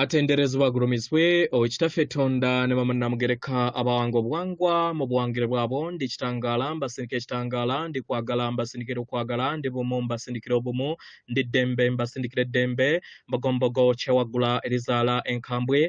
atenderezebwa agulumizibwe okitaffe tonda ne bamanamugereka abawanga obuwangwa mu buwangire bwabo ndi kitangaala mbasindika ekitangaala ndi kwagala mbasindikira okwagala ndi bumu mbasindikira obumu ndi ddembe mbasindikira eddembe mbogombogo kyewaggula erizaala enkambwe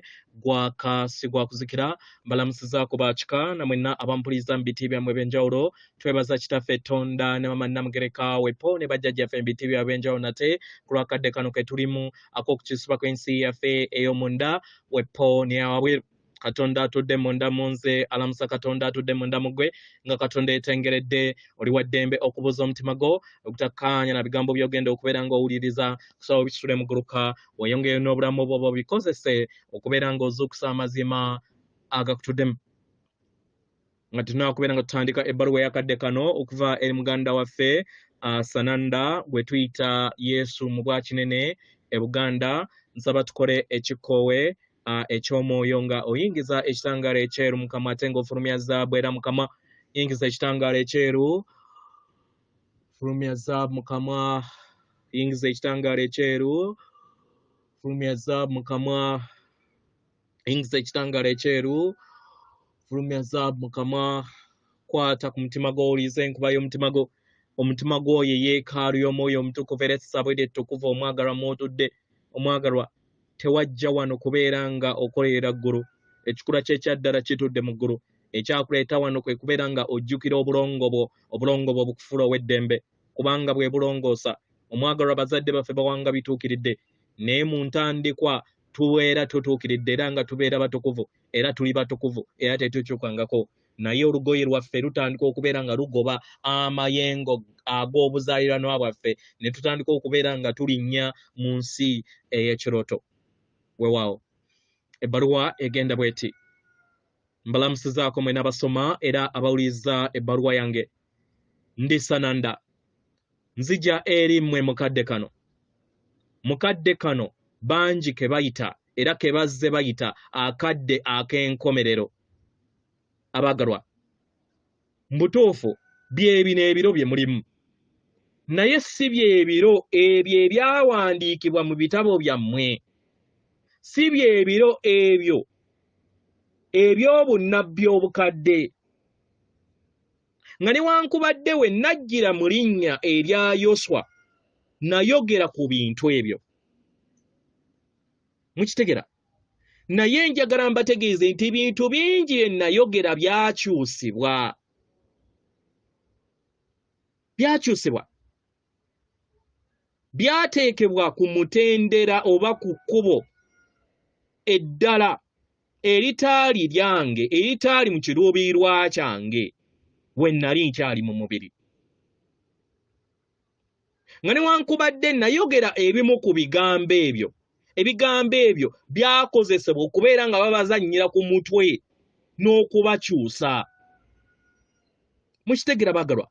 gwaka sigwakuzikira mbalamusiza ku bakika namwenna abampuliza mu biti byammwe ebyenjawulo twebaza kitaffe tonda ne mama namugereka wepo ne bajjajjaffe embitiibyo ab'enjawulo nate ku lwakadde kano ke tulimu ak'okukisuba kw'ensi yaffe ey'omunda wepo neyawabweru katonda atudde munda mu nze alamusa katonda atudde munda mu gwe nga katonda etengeredde oli wa ddembe okubuuza omutima gwo okutakkaanya na bigambo byogenda okubeera ng'owuliriza kusaba obisitule muguluka weyongeyo n'obulamu bwoba obikozese okubeera ng'ozuukusa amazima agakutuddemu nga tunakubeera nga tutandika ebbaluwa eyakadde kano okuva eri muganda waffe uh, sananda gwe tuyita yesu mu bwakinene e buganda nsaba tukole ekikkoowe uh, eky'omwoyo nga oyingiza ekitangaala ekyeru mukama ate nga ofulumya zaabu era mukama yingiza ekitangaala ekyeru fulumya zaabu mukama yingiza ekitangaala ekyeru fulumya zaabu mukama yingiza ekitangala ekyeru fulumya zaabu mu kamwa kwata ku mutima gwo owuliriza enkuba y'omutima gwo omutima gwoyo eyeekaalu y'omwoyo omutukuvu era essabwede ettukuvu omwagalwa mwotudde omwagalwa tewajja wano kubeera nga okolerera ggulu ekikula kyekyaddala kitudde mu ggulu ekyakuleeta wano kwe kubeera nga ojjukira obulongo bwo obulongo bwo bukufuula ow'eddembe kubanga bwe bulongoosa omwagalwa bazadde baffe bawanga bituukiridde naye mu ntandikwa tubeera tutuukiridde era nga tubeera batukuvu era tuli batukuvu era tetukyukangako naye olugoye lwaffe lutandika okubeera nga lugoba amayengo ag'obuzaaliranwa bwaffe ne tutandika okubeera nga tulinnya mu nsi ey'ekirooto wewaawo ebbaluwa egenda bweti mbalamusizaako mwena abasoma era abawuliriza ebbaluwa yange ndisananda nzija eri mmwe mukadde kano mukadde kano bangi ke bayita era ke bazze bayita akadde ak'enkomerero abaagalwa mu butuufu byebino ebiro bye mulimu naye si byebiro ebyo ebyawandiikibwa mu bitabo byammwe si byebiro ebyo eby'obunnabbi obukadde nga newankubadde we najjira mu linnya erya yoswa nayogera ku bintu ebyo mukitegera naye njagala mbategeeze nti bintu bingi bye nayogera byakyusibwa byakyusibwa byateekebwa ku mutendera oba ku kkubo eddala eritaali lyange eritaali mu kiruubiirwa kyange we nnali nkyali mu mubiri nga newankubadde nayogera ebimu ku bigambo ebyo ebigambo ebyo byakozesebwa okubeera nga babazannyira ku mutwe n'okubakyusa mukitegera bagalwa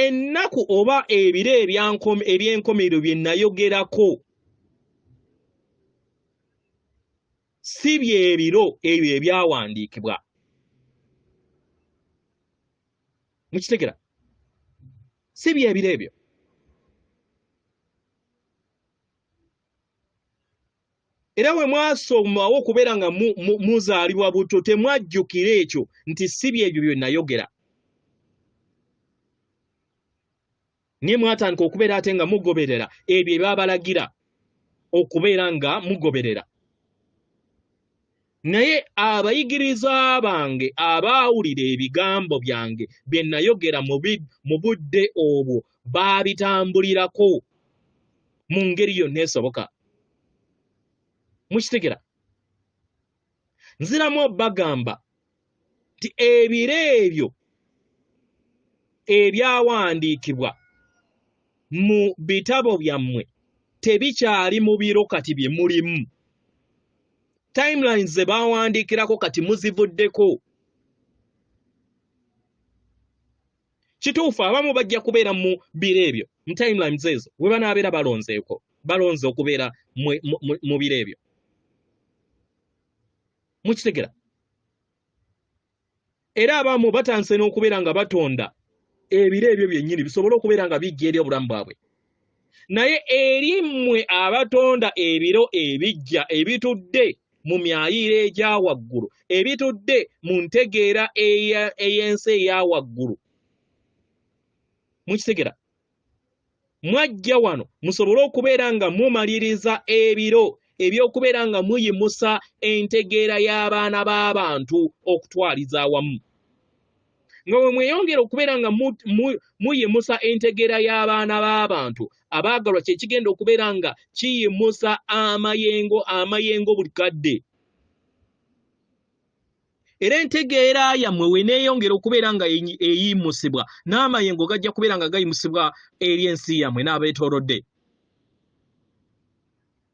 ennaku oba ebiro ebyankom- eby'enkomerero bye nayogerako si bye biro ebyo ebyawandiikibwa mukitegera si bye biro ebyo era we mwasomawo okubeera nga muzaalibwa butto temwajjukira ekyo nti si byebyo bye nayogera naye mwatandika okubeera ate nga mugoberera ebyo ebyabalagira okubeera nga mugoberera Naye abayigirizwa bange abaawulira ebigambo byange bye nayogera mu budde obwo baabitambulirako mu ngeri yonna esoboka. Mukitegera? Nziramu obagamba nti ebiro ebyo ebyawandiikibwa mu bitabo byammwe tebikyali mu biro kati bye mulimu timelines ze baawandiikirako kati muzivuddeko kituufu abamu bajja kubeera mu biro ebyo mu timelines ezo we banaabeera balonzeeko balonze okubeera mu biro ebyo mukitegera era abamu batanse n'okubeera nga batonda ebiro ebyo byennyini bisobole okubeera nga bijja eri obulamu bwabwe naye eri mmwe abatonda ebiro ebijja ebitudde mu myayiiro egya waggulu ebitudde mu ntegeera ey'ensi eya waggulu mukitegera mwajja wano musobole okubeera nga mumaliriza ebiro eby'okubeera nga muyimusa entegeera y'abaana b'abantu okutwaliza awamu nga bwe mweyongera okubeera nga muyimusa entegeera y'abaana b'abantu abaagalwa kye kigenda okubeera nga kiyimusa amayengo amayengo buli kadde era entegeera yammwe weneeyongera okubeera nga eyimusibwa n'amayengo gajja kubeera nga gayimusibwa eri ensi yammwe n'abeetoolodde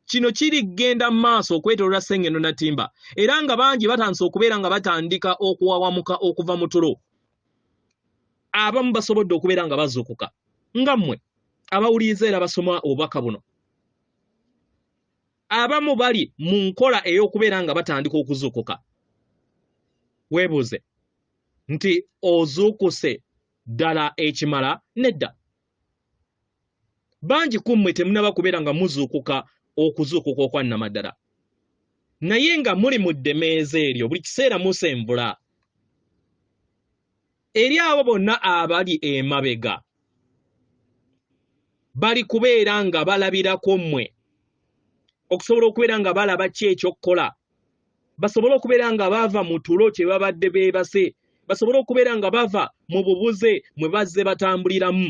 kino kiri kgenda mu maaso okwetolola sengeno natimba era nga bangi batandise okubeera nga batandika okuwawamuka okuva mu tulo abamu basobodde okubeera nga bazuukuka nga mmwe abawuliriza era basoma obubaka buno abamu bali mu nkola ey'okubeera nga batandika okuzuukuka weebuuze nti ozuukuse ddala ekimala nedda bangi ku mmwe temunaba kubeera nga muzuukuka okuzuukuka okwannamaddala naye nga muli mu ddemeeza eryo buli kiseera musembula eri abo bonna abali emabega bali kubeera nga balabirako mmwe okusobola okubeera nga balaba ki ekyokukola basobole okubeera nga bava mu tulo kye babadde beebase basobole okubeera nga bava mu bubuze mwe bazze batambuliramu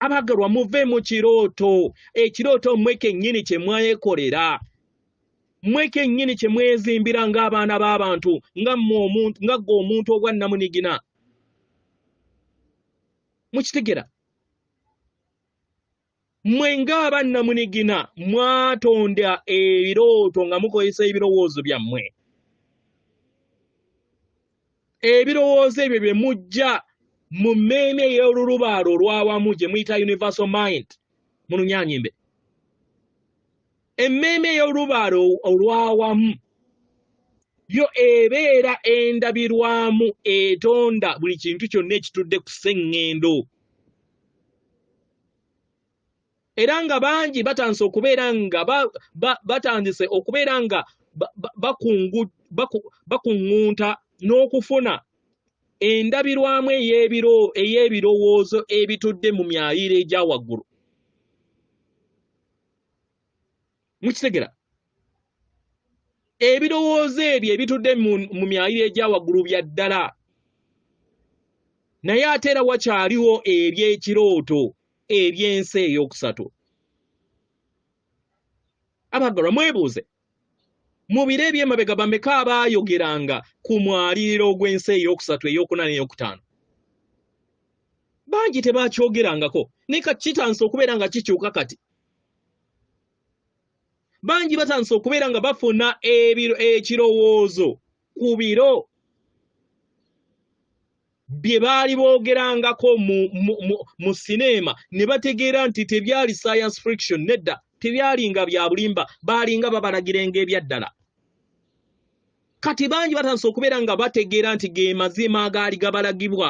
abagalwa muve mu kirooto ekirooto mmwe kennyini kye mwayekolera mwe kennyini kye mwezimbira ng'abaana b'abantu nga ggwe omuntu obwa nnamunigina mukitegera mwe ng'aba nnamunigina mwatonda ebirooto nga mukozesa ebirowoozo byammwe ebirowoozo ebyo bye mujja mu mmeeme ey'olulubaalo olw'awamu gye muyita universal mind mu lunyanyimbe emmeeme ey'olubaale olw'awamu yo ebeera endabirwamu etonda buli kintu kyonna ekitudde ku sseŋŋendo era nga bangi batandise okubeera nga batandise okubeera nga bakuŋŋunta n'okufuna endabirwamu ey'ebirowoozo ebitudde mu myayiro egya waggulu mukitegera ebirowoozo ebyo ebitudde mu myayiro egya waggulu bya ddala naye ate era wakyaliwo eby'ekirooto eby'ensi ey'okusatu abaggalwa mwebuuze Mu biro eby'emabega bameka abaayogeranga ku mwaliriro ogw'ensi ey'okusatu, ey'okuna n'ey'okutaano? Bangi tebaakyogerangako, ne ka kitandise okubeera nga kikyuka kati. Bangi batandise okubeera nga bafuna ekirowoozo ku biro bye baali boogerangako mu, mu, mu, mu sineema ne bategeera nti tebyali science friction nedda tebyalinga bya bulimba baalinga babalagirenga ebyaddala kati bangi batandise okubeera nga bategeera nti ge mazima agaali gabalagibwa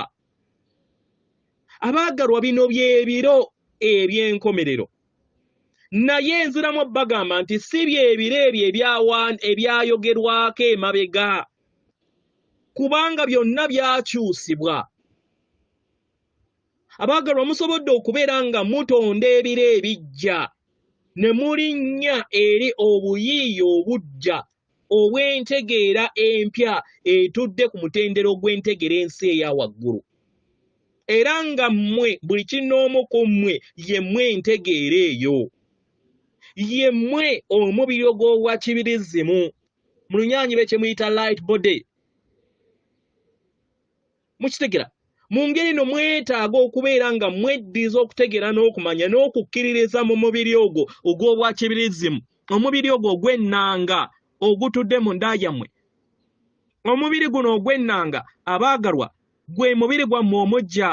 abaagalwa bino byebiro eby'enkomerero naye nziramu bagamba nti si byebiro ebyo ebyayogerwako emabega kubanga byonna byakyusibwa abaagalwa musobodde okubeera nga mutonda ebiro ebijja ne mulinnya eri obuyiiya obujja ow'entegeera empya etudde ku mutendera ogw'entegera ensi eya waggulu era nga mmwe buli kinoomu ku mmwe ye mmwe entegeera eyo ye mmwe omubiri ogw'obwa kibirizzimu mu lunyaanyi be kye muyita light body mukitegera mu ngeri no mwetaaga okubeera nga mweddiza okutegera n'okumanya n'okukkiririza mu mubiri ogwo ogw'obwakibirizimu omubiri ogwo ogw'ennanga ogutudde mu nda yammwe omubiri guno ogw'ennanga abaagalwa gwe mubiri gwammwe omujja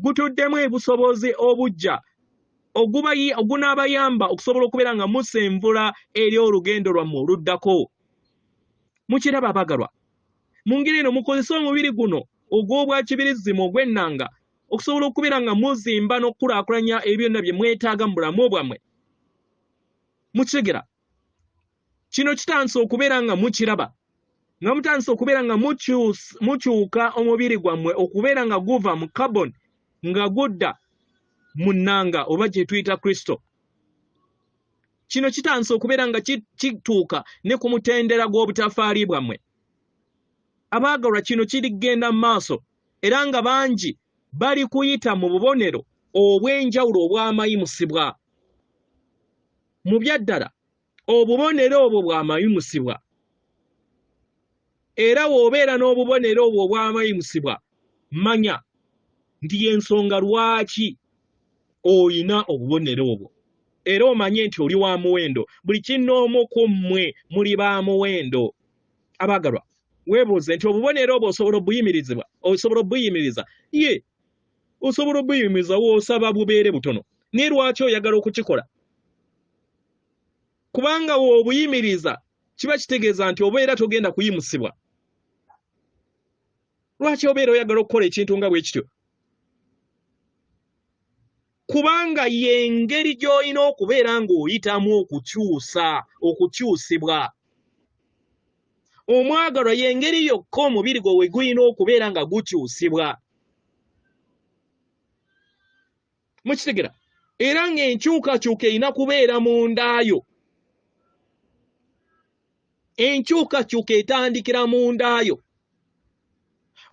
gutuddemu ebusobozi obujja ogunaabayamba okusobola okubeera nga musenvula eri olugendo lwammwe oluddako mukiraba abaagalwa mu ngeri eno mukozese omubiri guno ogw'obwakibirizzimu ogw'ennanga okusobola okubeera nga muzimba n'okukulaakulanya ebyo byonna bye mwetaaga mu bulamu bwammwe mukitegera kino kitandise okubeera nga mukiraba nga mutandise okubeera nga mukyuka omubiri gwammwe okubeera nga guva mu carbon nga gudda mu nnanga oba gye tuyita kristo kino kitandise okubeera nga kituuka ne ku mutendera gw'obutafaali bwammwe abaagalwa kino kirigenda mu maaso era nga bangi bali kuyita mu bubonero obw'enjawulo obwamayimusibwa mu byaddala obubonero obwo bwamayimusibwa era w'obeera n'obubonero obwo obwamayimusibwa manya nti y'ensonga lwaki olina obubonero obwo era omanye nti oli wa muwendo buli kinnoomu ku mmwe muli ba muwendo abaagalwa weebuuze nti obubonero obwo osobola obuyimirizibwa osobola obuyimiriza ye osobola obuyimiriza woosaba bubeere butono naye lwaki oyagala okukikola kubanga w'obuyimiriza kiba kitegeeza nti obeera togenda kuyimusibwa lwaki obeera oyagala okukola ekintu nga bwe kityo kubanga y'engeri gy'olina okubeera ng'oyitamu okukyusa okukyusibwa omwagalwa y'engeri yokka omubiri gwe we gulina okubeera nga gukyusibwa mukitegera era ng'enkyukakyuka erina kubeera mu ndaayo enkyukakyuka etandikira mu ndaayo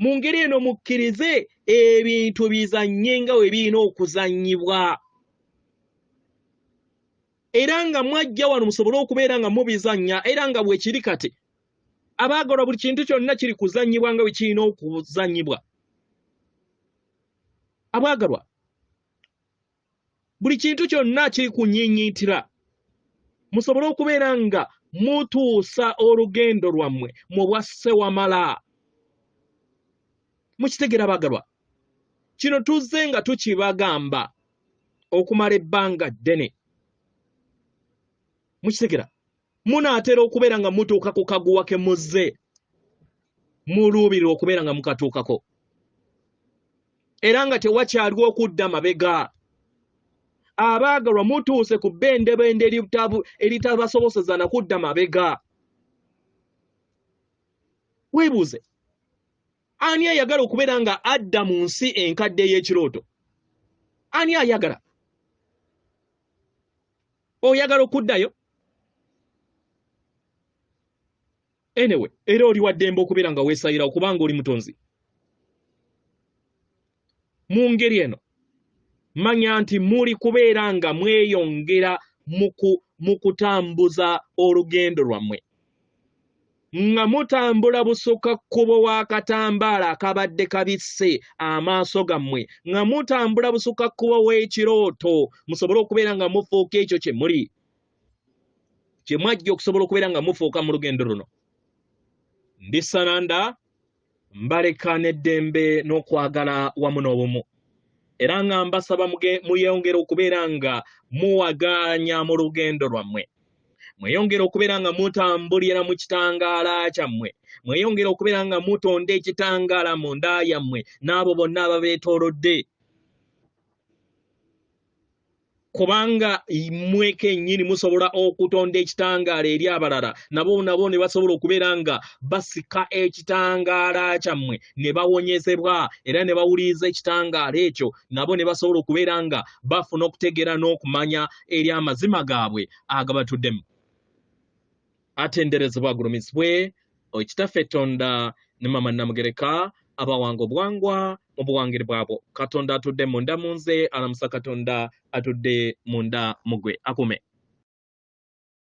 mu ngeri eno mukkirize ebintu bizannye nga we birina okuzannyibwa era nga mwajja wano musobole okubeera nga mubizannya era nga bwekiri kati abaagalwa buli kintu kyonna kiri kuzannyibwa nga bwe kirina okuzannyibwa abwagalwa buli kintu kyonna kiri ku nyinyiitira musobole okubeera nga mutuusa olugendo lwammwe mu bwa ssewamala mukitegera bagalwa kino tuzze nga tukibagamba okumala ebbanga ddene mukitegera munaatera okubeera nga mutuuka ku kaguwa ke muzze muluubirira okubeera nga mukatuukako era nga tewakyaliwo okudda mabega abaagalwa mutuuse ku bbendebende eritabasoboseza na kudda mabega weebuuze ani ayagala okubeera nga adda mu nsi enkadde ey'ekirooto ani ayagala oyagala okuddayo anyway era oli waddembe okubeera nga weesayira okubanga oli mutonzi mu ngeri eno manya nti muli kubeera nga mweyongera mu kutambuza olugendo lwammwe nga mutambula busukka kkubo wa katambaala akabadde kabisse amaaso gammwe nga mutambula busukka kkubo w'ekirooto musobole okubeera nga mufuuka ekyo kye muli kye mwajja okusobola okubeera nga mufuuka mu lugendo luno ndisananda mbaleka n'eddembe n'okwagala wamu n'obumu era nga mbasaba muyongere okubeera nga muwagaanya mu lugendo lwammwe mweyongere okubeera nga mutambulira mu kitangaala kyammwe mweyongere okubeera nga mutonda ekitangaala mu nda yammwe n'abo bonna ababeetoolodde kubanga mmwe kennyini musobola okutonda ekitangaala eri abalala nabo nabo ne basobola okubeera nga basika ekitangaala kyammwe ne bawonyezebwa era ne bawuliriza ekitangaala ekyo nabo ne basobola okubeera nga bafuna okutegeera n'okumanya eri amazima gaabwe agabatuddemu atenderezebwa agulumizibwe okitaffe tonda ne mama namugereka abawanga obwangwa mu buwangire bwabwo katonda atudde munda mu nze alamusa katonda atudde munda mugwe akume